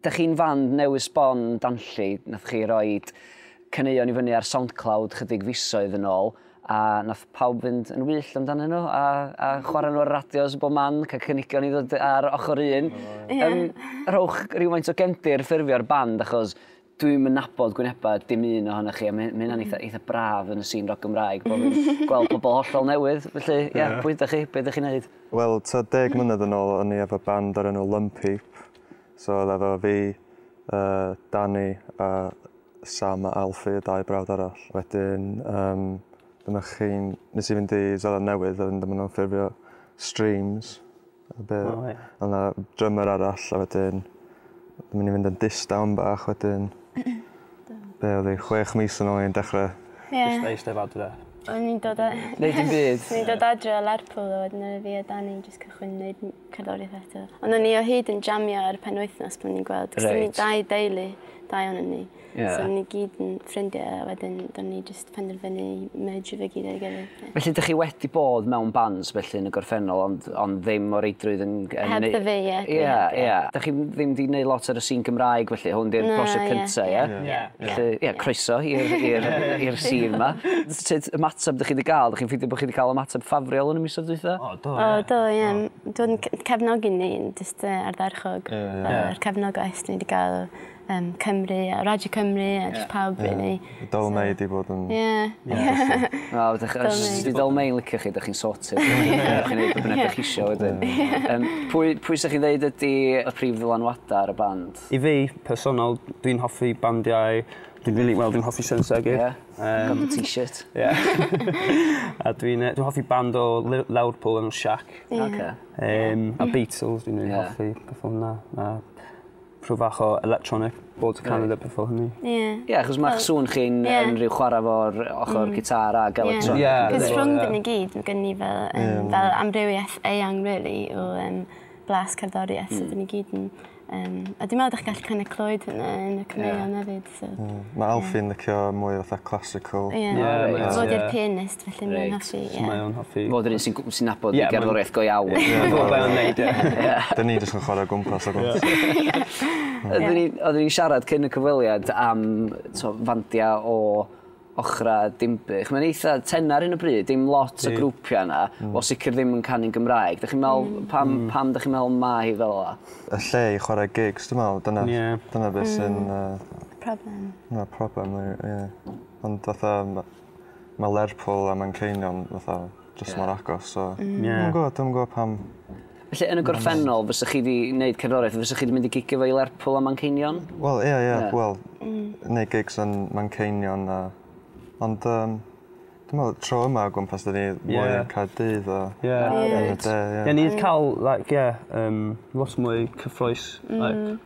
Dych chi'n fand newydd sbon danlli, nath chi roid caneuon i fyny ar Soundcloud chydig fisoedd yn ôl a nath pawb fynd yn wyllt amdanyn nhw a, a hmm. chwarae nhw ar radios bob man, cael cynigion i ddod ar ochr un. Yeah. Um, rhowch rhywfaint o gendir ffurfio'r band achos dwi'm yn nabod gwyneba dim un ohonoch chi a mae hyn- hynna'n eitha mm. eitha braf yn y sîn rock Gymraeg bod fi'n gweld pobl hollol newydd felly ie yeah, pwy ydych chi be' ydych chi'n neud? Wel ta deg mlynedd yn ôl o'n i efo band o'r enw Lumpheap so oedd efo fi uh, Danny a Sam a Alfie y dau brawd arall wedyn um, dyna chi'n nes i fynd i Zeland Newydd a wedyn dyma nhw'n ffurfio Streams A be'... O ia? O' 'na drymer arall a wedyn o'n mynd i fynd yn distaw 'mbach wedyn. Be' odd 'i chwech mis yn ôl o'n dechre... Ie. ...jyst eistedd adre. O'n i'n dod a... Neud dim byd. O'n i'n dod adre o Lerpwl a wedyn odd fi a Dani jyst cychwyn neud m- cerddorieth eto. Ond o'n ni o hyd yn jamio ar y penwythnos pan o'n ni'n gweld... Reit. ...'chos o'n ni dau deulu. Dau onon ni. Yeah. So ni gyd yn ffrindiau a wedyn do'n ni jyst penderfynu i mergio fe gyd ar ei gilydd. Felly dych chi wedi bod mewn bands felly yn y gorffennol ond, ond ddim o reidrwydd yn... yn heb dda fe, ie. Ie, ie. Dych chi ddim wedi gwneud lot ar y sîn Gymraeg felly, hwn di'r prosiect cyntaf, ie? Ie. Felly, ie, croeso i'r sîn yma. Sut ymateb dych chi wedi cael? Dych chi'n ffeindio bod chi wedi cael ymateb ffafriol yn y misoedd dwytha? O, do, ie. O, do, ie. Dwi'n cefnogi ni, jyst ardderchog. Yr cefnogaeth ni wedi cael um, Cymru a Radio Cymru a yeah. pawb yeah. really. Dol May di bod yn... Yeah. yeah. Na, di Dol May yn licio chi, da chi'n sorted. Rwy'n chi'n neud beth ydych chi isio wedyn. Um, pwy, pwy sy'ch chi'n ddeud ydy y prif ddylanwadau ar y band? I fi, personol, dwi'n hoffi bandiau Dwi'n really, well, dwi'n hoffi Sensor Gig. Yeah, um, got the t-shirt. Yeah. a dwi'n dwi hoffi band o Liverpool yn Shack. Yeah. Okay. Um, a Beatles, dwi'n really yeah. hoffi beth o'na. Prwfach o electronic board to Canada before hynny. Ie. Ie, achos mae'ch well, sŵn chi'n yeah. yn rhyw chwarae fo'r ochr mm. gitar ac electronic. Yeah. Cos yeah. rhwng dyn i gyd, mae gen i fel, um, yeah. fel amrywiaeth eang, really, o um, blas cerddoriaeth, mm. so dyn i gyd yn... Um, a dwi'n meddwl ydych chi'n gallu kind of clywed hynna yn y cyneuon yeah. hefyd. So... Ie. Ma' Alfie'n licio mwy o fatha classical. Ie. Ie reit ie. Fo 'di'r pianist felly mae'n hoffi ie. Reit. So mae o'n hoffi... Fo 'di'r un sy'n gw- sy'n nabod y gerddoriaeth go iawn. Ie ma'n gwbo be' ma'n neud ie. Ie. 'Dyn ni jyst yn chware o gwmpas o gwmpas. Ie. Ie. Oeddwn i oeddwn i'n siarad cyn y cyfweliad am t'o' fandia o Ochrau Dinbych. Mae'n eitha tenau ar hyn o bryd, dim lot o grwpiau yna, mm. o sicr ddim yn canu'n Gymraeg. Dych chi'n meddwl, mm. pam, mm. pam dych chi'n meddwl mae hi fel yna? Y lle i chwarae gigs, dwi'n meddwl, dyna, yeah. dyna beth sy'n... Mm. Uh, problem. Na, problem, ie. Yeah. Ond fatha, mae Lerpwl a Manceinion, fatha, jyst yeah. mor agos. So, mm. yeah. Dwi'n gwybod, dwi'n gwybod pam... Felly, yn y gorffennol, fysych chi wedi gwneud cerddoriaeth, fysych chi wedi mynd i gigio fo i Lerpwl a Manceinion? Wel, ie, ie, wel, mm. neu gigs yn Manceinion a... Ond, um, dwi'n meddwl, tro yma o gwmpas, dyn ni mwy yeah. yn cael dydd o... Ie, ie. Ie, ni wedi cael, like, ie, um, lot mwy cyffroes, mm. like,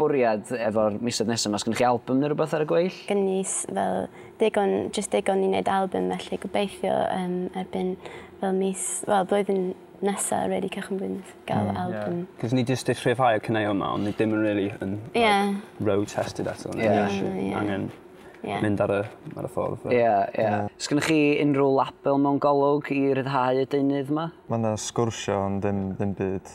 bwriad efo'r misoedd nesaf ma? Sgynnoch chi album neu rhywbeth ar y gweill? Gen i fel digon, just digon i wneud album felly gobeithio um, erbyn fel mis, fel blwyddyn nesa, really, cychwyn blwyddyn nesa, gael mm, album. Yeah. Cos ni just eich rhyfhau y cynau yma, ond ni ddim yn really yn yeah. like, road tested eto. Yeah. yeah. yeah. Angen yeah. mynd ar y, ar y ffordd. Ie, yeah, ie. Yeah. Yeah. Sgynnoch chi unrhyw label mewn golwg i ryddhau y deunydd yma? Mae yna sgwrsio ond ddim, ddim byd